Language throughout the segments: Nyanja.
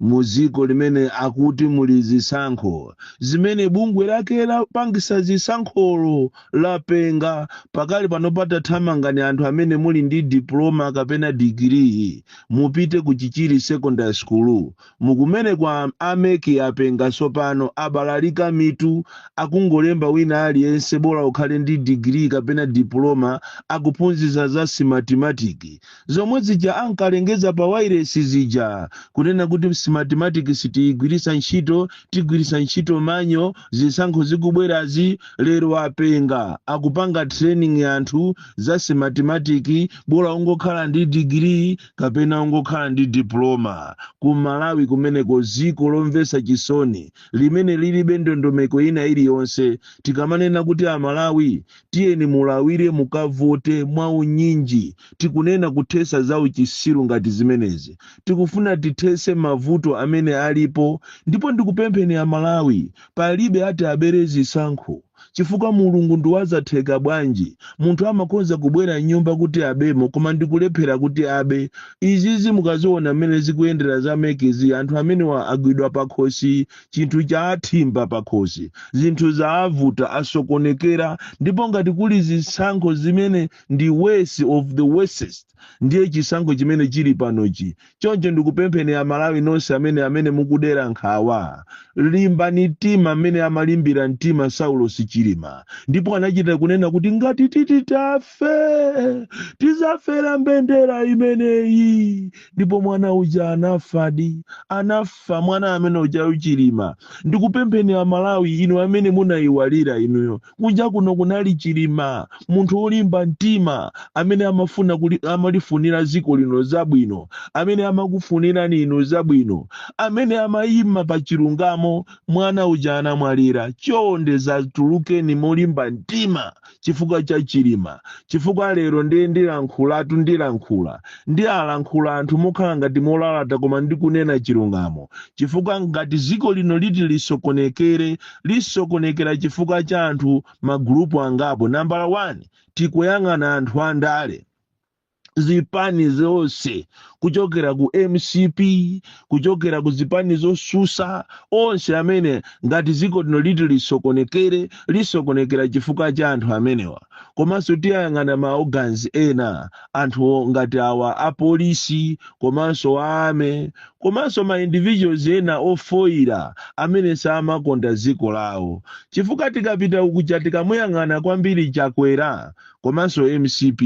mu dziko limene akuti muli zisankho zimene bungwe lake lapangisa zisankholo lapenga pakali panopa tathamangani anthu amene muli ndi diploma kapena digiri mupite ku chichiri secondary school mukumane kwa a mec apenga tsopano abalalika mitu akungolemba wina aliyense bola ukhale ndi digiri kapena diploma akuphunzisa za smartmatic Zomwe zija ankalengeza pa wailesi zija, kunena kuti smartmatic sitiyigwiritsa ntchito, tigwiritsa ntchito manual, zisankho zikubwerazi, lero apenga, akupanga training anthu za smartmatic, bola ungokhala ndi degree kapena ungokhala ndi diploma. Ku Malawi kumeneko, dziko lomvetsa chisoni limene lilibe ndondomeko ina iliyonse. Tikamanena kuti a Malawi tiyeni mulawire mukavote mwa unyinji tikunena kuthesa za uchisiru ngati zimenezi tikufuna tithese mavuto amene alipo ndipo ndikupempheni amalawi palibe ati abere zisankho chifukwa mulungu ndiwazatheka bwanji munthu amakhoza kubwera mnyumba kuti abemo koma ndikulephera kuti abe izizi mukaziona mmene zikuyendera za mec zi anthu amenewa agwidwa pakhosi Chinthu chaathimba pakhosi, zinthu zaavuta, asokonekera, ndipo ngati kuli zisankho zimene ndi worse of the worsest ndiye chisankho chimene chili panochi. Choncho ndikupempheni a Malawi nonse amene amene mukudera nkhawa, limbani mtima mmene amalimbira mtima Saulosi Chilima ndipo anachita kunena kuti ngati titi taf. tizafe tizafera mbendera imeneyi ndipo mwana uja anafadi anafa mwana amene uja chilima ndikupempheni amalawi inu amene munayiwalira inuyo kunja kuno kunali chilima munthu wolimba mtima amene amalifunira dziko lino zabwino amene amakufunirani inu zabwino amene amayima pa chilungamo mwana uja anamwalira chonde zatulukeni molimba mtima chifukwa cha chilima chifukwa lero ndiye ndilankhulatu ndilankhula ndi alankhula anthu mokhala ngati molalata koma ndikunena chilungamo chifukwa ngati dziko lino liti lisokonekere lisokonekera chifukwa cha anthu magulupu angapo nambala 1 tikuyang'ana anthu andale zipani zonse kuchokera ku mcp kuchokera ku zipani zosusa onse amene ngati dziko lino liti lisokonekere lisokonekera chifukwa cha anthu amenewa komanso tiyang'ana ma organs ena anthu ngati awa apolisi komanso a army komanso ma individuals ena ofoyira amene samakonda dziko lawo chifukwa tikapita uku cha tikamuyang'ana kwambiri chakwera komanso mcp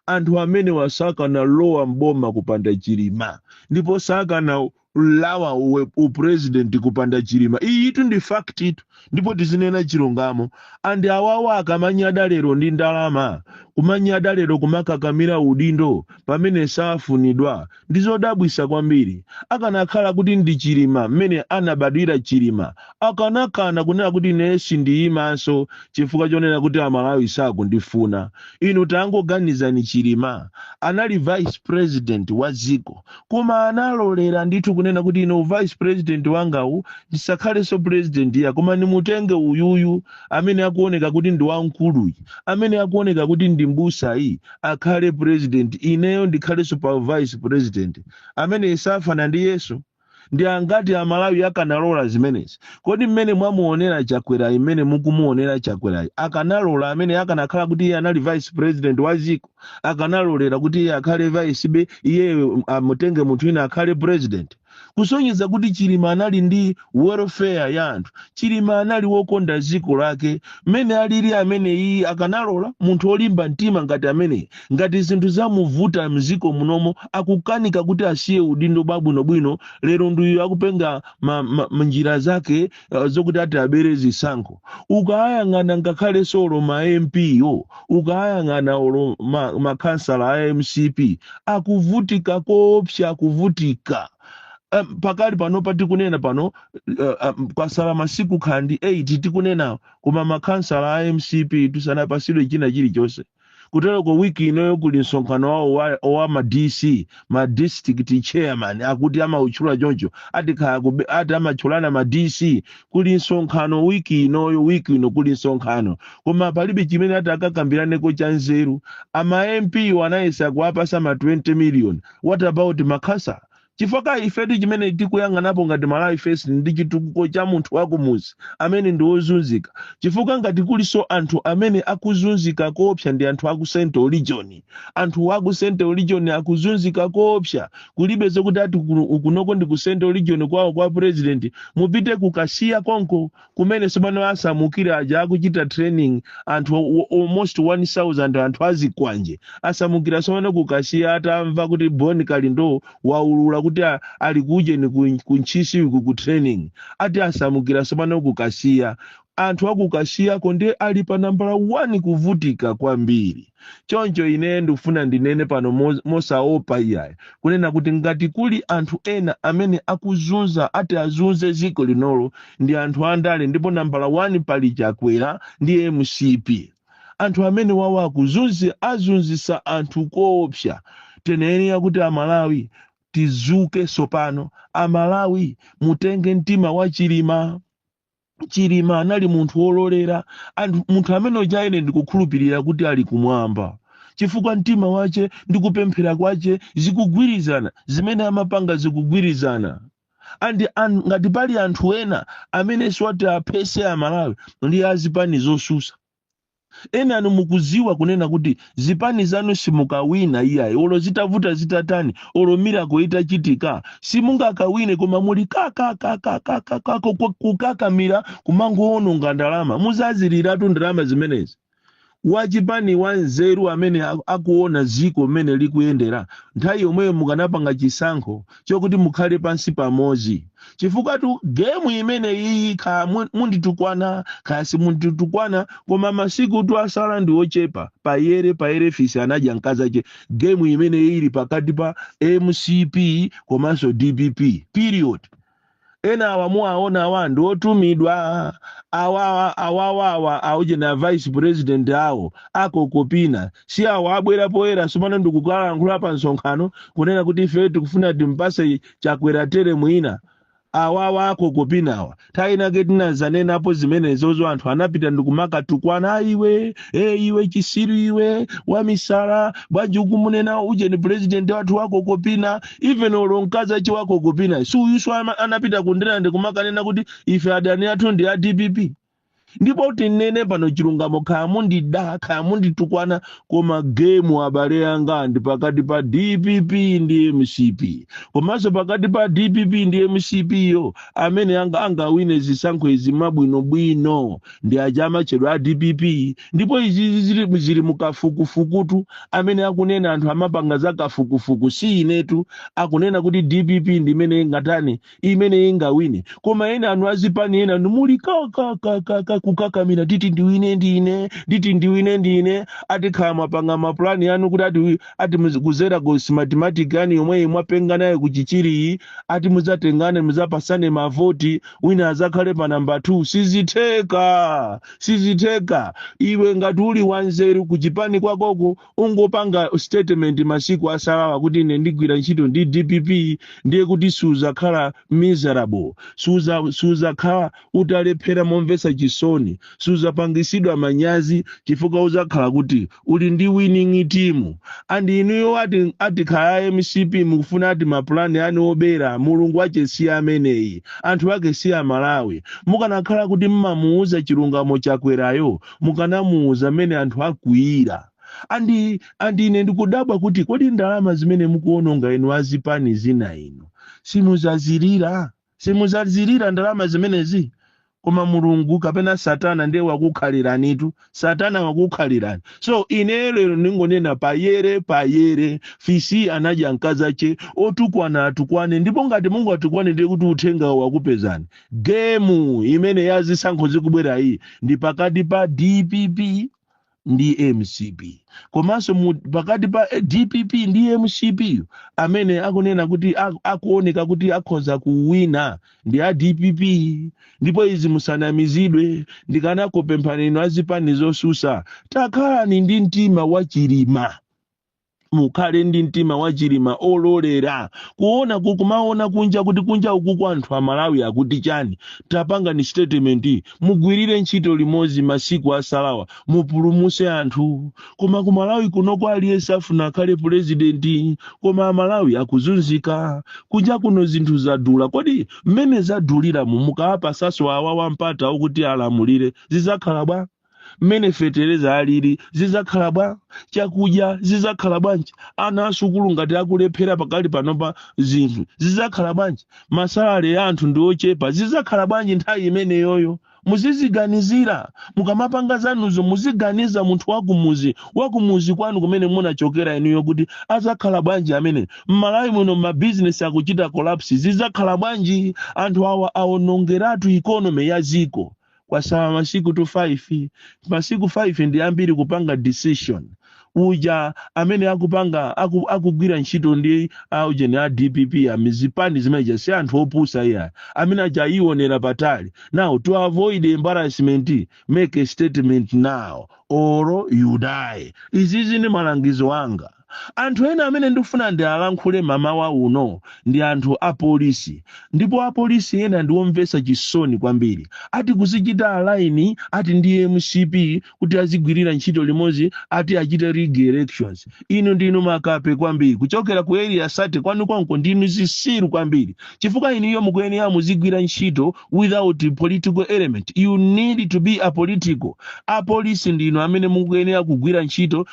anthu amenewa sakanalowa mboma kupanda chilima ndipo sakanalawa upresident kupanda chilima iyitu ndi facttu ndipo tizinena chilungamo and awawa akamanyada lero ndi ndalama kumanyada lero kumakakamira udindo pamene safunidwa Ndi zodabwisa kwambiri. Akanakhala kuti ndi Chilima mmene anabadwira Chilima akanakana kunena kuti inee sindiyimanso chifukwa chonena kuti amalawi sakundifuna. Inu tangoganizani Chilima anali vice president wa dziko koma analolera ndithu kunena kuti ine u vice president wangawu ndisakhalenso president iyayi koma ndimutenge uyuyu amene akuoneka kuti ndi wamkuluyi amene akuoneka kuti ndi mbusayi akhale president ineyo ndikhalenso pa vice president ameneyi safana ndi yesu ndi angati amalawi akanalola zimenezi kodi mmene mwamuonera chakwerayi mmene mukumuonera chakwerayi akanalola amene akanakhala kuti iye anali vice president wa ziko akanalolera kuti iye akhale vicebe iyeyo amutenge munthu wina akhale president kusonyeza kuti chilima anali ndi welfare ya anthu chilima anali wokonda dziko lake mmene alili ameneyi akanalola munthu olimba mtima ngati ameneyi ngati zinthu zamuvuta mziko munomo akukanika kuti asiye udindo bwabwinobwino lero ndi uyu akupanga ma, ma, ma njira zake uh, zokuti ati abere zisankho ukayang'ana ngakhalenso olo ma mp wo ukayang'ana olo ma- makhansala a mcp akuvutika koopsa akuvutika um, pakali pano patikunena pano uh, um, kwasala masiku kaya ndi 8 tikunena koma makhansala a mcp tu sanapasidwe china chilichonse kuteroko wiki inoyo kuli msonkhano wawo wa- wa ma dc ma district chairman akuti amawatchula choncho ati kaya kube- ati amatchulana ma dc kuli msonkhano wiki inoyo wiki ino kuli msonkhano koma palibe chimene ati akakambiraneko cha nzeru ma mp wo anayesa kuwapasa ma 20 million what about makhansala chifukwa ifetu chimene tikuyang'anapo ngati malawi first ndi chitukuko cha munthu wakumuzi amene ndi wozunzika chifukwa ngati kulinso anthu amene akuzunzika koopsa ndi anthu aku central region anthu aku central region akuzunzika koopsa kulibe zokuti ati kuno- kunoko ndi ku central region kwawo kwa president mupite kukasiya konko kumene tsopano asamukira aja akuchita training anthu o- o- almost 1000 anthu azikwanje asamukira tsopano kukasiya atamva kuti bon kalindo waulula kuti a- ali kujeni ku- ku ntchisi uku ku training ati asamukira tsopano kukasiya anthu akukasiyako nde ali pa nambala 1 kuvutika kwambiri choncho ine ndikufuna ndinene pano mo- mosaopa iyayi kunena kuti ngati kuli anthu ena amene akuzunza ati azunze ziko linolo ndi anthu andale ndipo nambala 1 pali chakwera ndi mcp anthu amene awawa akuzunzi- azunzisa anthu koopsa tiyenera kuti amalawi tizuke sopano amalawi mutenge mtima wa chilima chilima anali munthu wololera munthu munthu amene uja ine ndikukhulupirira kuti ali kumwamba chifukwa mtima wache ndi kupemphera kwache zikugwirizana zimene amapanga zikugwirizana and, and ngati pali anthu ena amene si oti aphese amalawi ndi azipani zosusa enanu mukuziwa kunena kuti zipani zanu simukawina iyayi olo zitavuta zitatani olo miracle itachitika simungakawine koma muli kakakakakakako kukakamira kumangowononga ndalama muzaziliratu ndalama zimenezi wachipani wanzeru amene a- akuona ziko mmene likuyendera nthawi yomweyo mukanapanga chisankho chokuti mukhale pansi pamodzi chifukwatu gemu imene iyi kaya mu- munditukwana kaya simunditukwana koma masikutu asala ndi ochepa payere payere fisi anadya mkazi ache gemu imene iyi ili pakati pa mcp komanso dpp period ena awa mukuwaona awa ndi otumidwa awawa awawawa aujeni a vice president awo akokopina si awo abwera poyera sopano ndikukalankhula pa msonkhano kunena kuti ife tikufuna timpase chakwera tere mwina awawa akokopinawa nthawi inake titazanenapo zimenezozo anthu anapita ndikumakatukwana iwe e iwe chisiru iwe wamisala bwanji ukumunena ujeni president wathu wakokopina even olo mkazi ache wakokopina si uyuso ama- anapita ku ndirande kumakanena kuti ife adani athu ndi a dpp ndipo tinene pano chilungamo kaya mundida kaya munditukwana koma gemu abale anga ndi pakati pa dpp ndi mcp komanso pakati pa dpp ndi mcpyo amene anga angawine zisankho izi mabwinobwino ndi aja amatchedwa a dpp ndipo izizi zili, zili mukafukufukutu amene akunena anthu amapanga za kafukufuku si inetu akunena kuti dpp ndi imene ingatani imene ingawine koma ena anu azipani enanu muli kakakakaka kukakamira titi ndiwine ndine titi ndiwine ndine ati kaya mwapanga mapulani anu kuti ati, wi- ati muzi- kuzera ku smartmatic yanu yomweyi mwapenga nayo ku chichiriyi ati mudzatengane mudzapasane mavoti wina azakhale pa namba 2 sizitheka sizitheka iwe ngati uli wanzeru kuchipani kwakoko ungopanga statement masiku asalawa kuti ine ndigwira ntchito ndi dpp ndiye kuti suzakhala miserable suza- suzakhala utalephera momvetsa chisoni suzapangisidwa manyazi chifukwa uzakhala kuti uli ndi winning team and inuyo ati kaya mcp mukufuna ati mapulani anu obera mulungu wache si ameneyi anthu ake si amalawi mukanakhala kuti mmamuuza chilungamo chakwerayo mukanamuuza mmene anthu akwiyira and and ine ndikudabwa kuti kodi ndalama zimene mukuononga inu azipani zina ino simuzazilira Simudzazilira ndalama zimenezi? Koma Mulungu kapena satana ndiye wakukhaliranitu, satana wakukhalirani. So ineyo lero ndingonena poyera poyera, fisi anadya mkazache, otukwana atukwane ndipo ngati mungatukwane ndiye kuti uthengawo wakupezani. Gemu imene ya zisankho zikubwera iyi ndi pakati pa dpp ndi mcp komanso mu- pakati pa dpp ndi mcp amene akunena kuti ak- akuoneka kuti akhoza kuwina ndi a dpp ndipo izi musanamizidwe ndikanakupemphani inu azipani zosusa takhalani ndi mtima wachilima mukhale ndi mtima wa chilima ololera kuona ku- kumaona kunja kuti kunja ukuku anthu amalawi akuti chani tapangani statement mugwirire ntchito limodzi masiku asalawa mupulumuse anthu koma ku malawi kunoko aliyense afuna akhale pulezidenti koma amalawi akuzunzika kunja kuno zinthu zadula kodi mmene zaduliramu mukawapasaso awawa mpata okuti alamulire zizakhala bwa mmene fetereza alili zizakhala bwa chakudya zizakhala bwanji ana asukulu ngati akulephera pakali panopa zinthu zizakhala bwanji masalale ya anthu ndi ochepa zizakhala bwanji nthawi imeneyoyo muziziganizira mukamapanga zanuzo muziganiza munthu wakumuzi wakumuzi kwanu kumene munachokera inuyo kuti azakhala bwanji amene mmalawi muno mabizinesi akuchita collapse zizakhala bwanji anthu awa awonongeratu economy ya dziko kwasala masiku tu 5 masiku 5 ndi ambiri kupanga decision aja amene akupanga aku, akugwira ntchito ndi awujeni a dpp amizipani zimeneja si anthu opusa iyayi amene aja ayionera patali now to avoid embarrassment make a statement now or you die izizi ndi malangizo anga Anthu ena amene ndikufuna ndialankhule mamawa uno ndi anthu a polisi. Ndipo a polisi ena ndi omvetsa chisoni kwambiri. Ati kuzichita align ati ndi mcp kuti azigwirira ntchito limodzi ati achite rig elections. Inu ndinu makape kwambiri. Kuchokera ku area 30 kwanu konko ndinu zisiru kwambiri. Chifukwa inuyo mukuyenera muzigwira ntchito without political element. You need to be apolitical. A polisi ndinu amene mukuyenera kugwira ntchito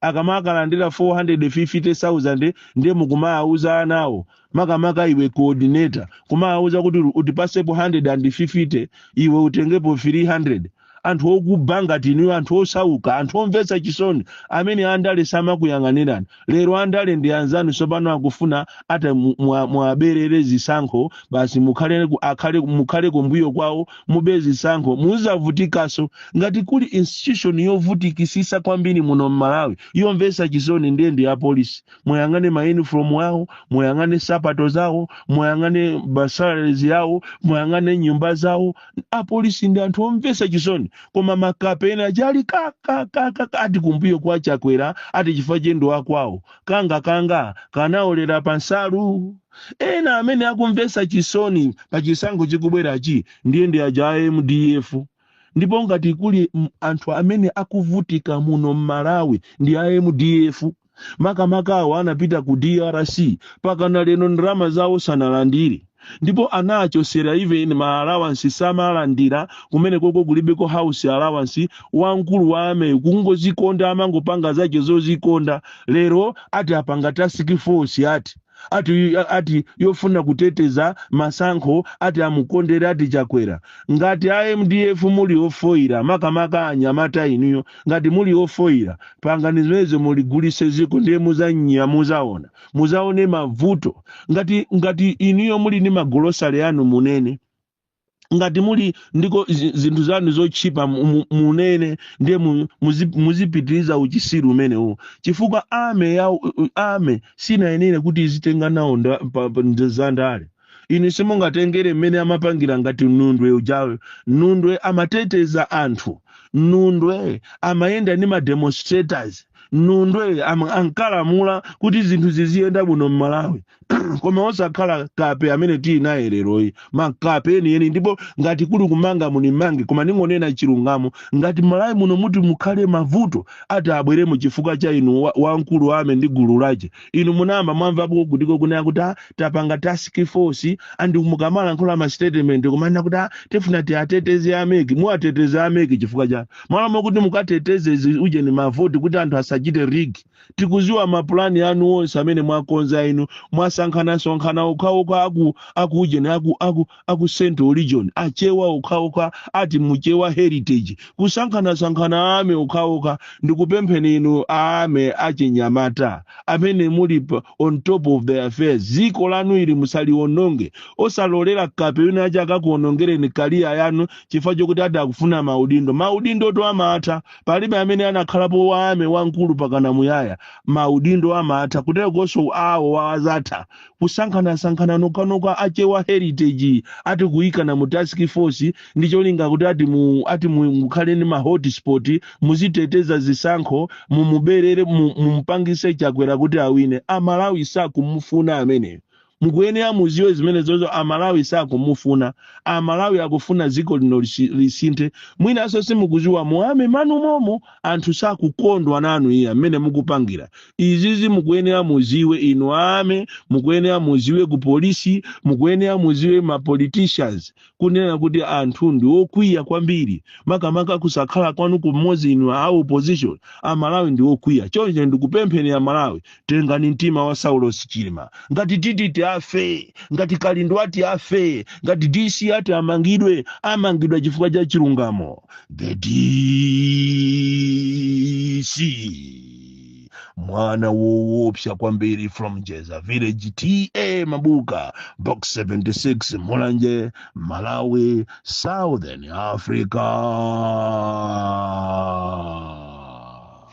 akamakalandira 450,000 ndiye mukumawawuza anawo makamaka iwe coordinator kumawawuza kuti utipasepo 150 iwe utengepo 300 anthu okuba ngati inuyo anthu osauka anthu omvesa chisoni amene andale samakuyang'anirani lero andale ndi anzanu sopano akufuna ata mu- mwa- muwaberere zisankho basi mukhale ku- akhale mukhale kumbuyo kwawo mube zisankho muzavutikaso ngati kuli institution yovutikisisa kwambiri muno mmalawi yomvesa chisoni ndiye ndi apolisi muyang'ane ma uniform awo muyang'ane sapato zawo muyang'ane ma salaries yawo muyang'ane nyumba zawo apolisi ndi anthu omvesa chisoni koma makape ena achali kakakaka ati kumbuyo kwa chakwera ati chifukwa choti ndi wakwawo kanga kanga kanaolera pansalu Ena amene akumvesa chisoni pa chisankho chikubwerachi ndiye ndi aja a mdf ndipo ngati kuli anthu amene akuvutika muno m'Malawi ndi a mdf makamaka awo anapita ku drc pakana lero ndalama zawo sanalandire ndipo anawachosera even ma allowance samalandira kumenekoko kulibeko house allowance wamkulu wa army kungozikonda amangopanga zake zozikonda lero ati apanga task force ati ati ati yofuna kuteteza masankho ati amukondere ati chakwera ngati a mdf muli ofoira makamaka anyamata inuyo ngati muli ofoira pangani zimenezo muligulise ziko ndiye muzanyia muzaona muzaone mavuto ngati ngati inuyo muli ni magolosale anu munene ngati muli ndiko zi- zinthu zanu zotchipa mu- mu- munene ndiye mu- muzi- muzipitiriza uchisiru umenewuwo chifukwa army ya u- u- army sinayenere kuti izitenga nawo nda- pa- pa- ndi za ndale inu simungatengere mmene amapangira ngati nundwe ujawe nundwe amateteza anthu nundwe amayenda ni ma demonstrators nundwe am- ankalamula kuti zinthu ziziyenda bwino m'malawi koma osakhala kape amene tili naye leroyi makape enieni ndipo ngati kuli kumanga munimange koma ningonena chilungamo ngati m'malawi muno muti mukhale mavuto ati abweremo chifukwa cha inu wa- wamkulu wa army ndi gulu lache inu munayamba mwamvapo kutiko kunena kuti "Ah, tapanga task force and mukamalankhula ma statement kumanena kuti "Ah, tifuna tiwateteze a mec muwateteze a mec chifukwa chani mmalo mokuti mukateteze zi- ujeni mavoti kuti anthu asachite rig tikuziwa mapulani anu onse amene mwakonza inu mwasankhanasankhana okhaokha aku aku ujeni aku aku a ku central region achewa okhaokha ati mu chewa heritage kusankhanasankhana a army okhaokha ndikupempheni inu a army achinyamata amene muli pa- on top of the affairs ziko lanu ili musaliononge osalolera kape wina aja akakuonongereni career yanu chifukwa chokuti ati akufuna maudindo maudindo to amatha palibe amene anakhalapo wa army wamkulu pakana muyaya maudindo amatha kuterekonso awo wawazatha kusankhanasankhana nokhanokha a chewa heritage ati kuyikana mu task force ndi cholinga kuti ati mu ati mu- mukhale ndi ma hotspot muziteteza zisankho mumuberere mu- mumupangise chakwera kuti awine amalawi sakumufuna ameneyo mukuyenera muziwe zimenezozo amalawi sakumufuna amalawi akufuna dziko lino lisi- lisinthe mwinanso simukuziwa mu army mwanu momo anthu sakukondwa nanu iya mmene mukupangira izizi mukuyenera muziwe inu a army mukuyenera muziwe ku polisi mukuyenera muziwe ma politicians kunena kuti anthu ndi okwiya kwambiri makamaka kusakhala kwanu kumodzi inu a opposition amalawi ndi okwiya choncho ndikupempheni amalawi tengani mtima wa saulos chilima ngati tititi afe ngati kalindo ati afe ngati dc ati amangidwe amangidwe chifukwa cha chilungamo the dc mwana woopsa kwambiri from jeza village ta mabuka box 76 mulanje malawi southern africa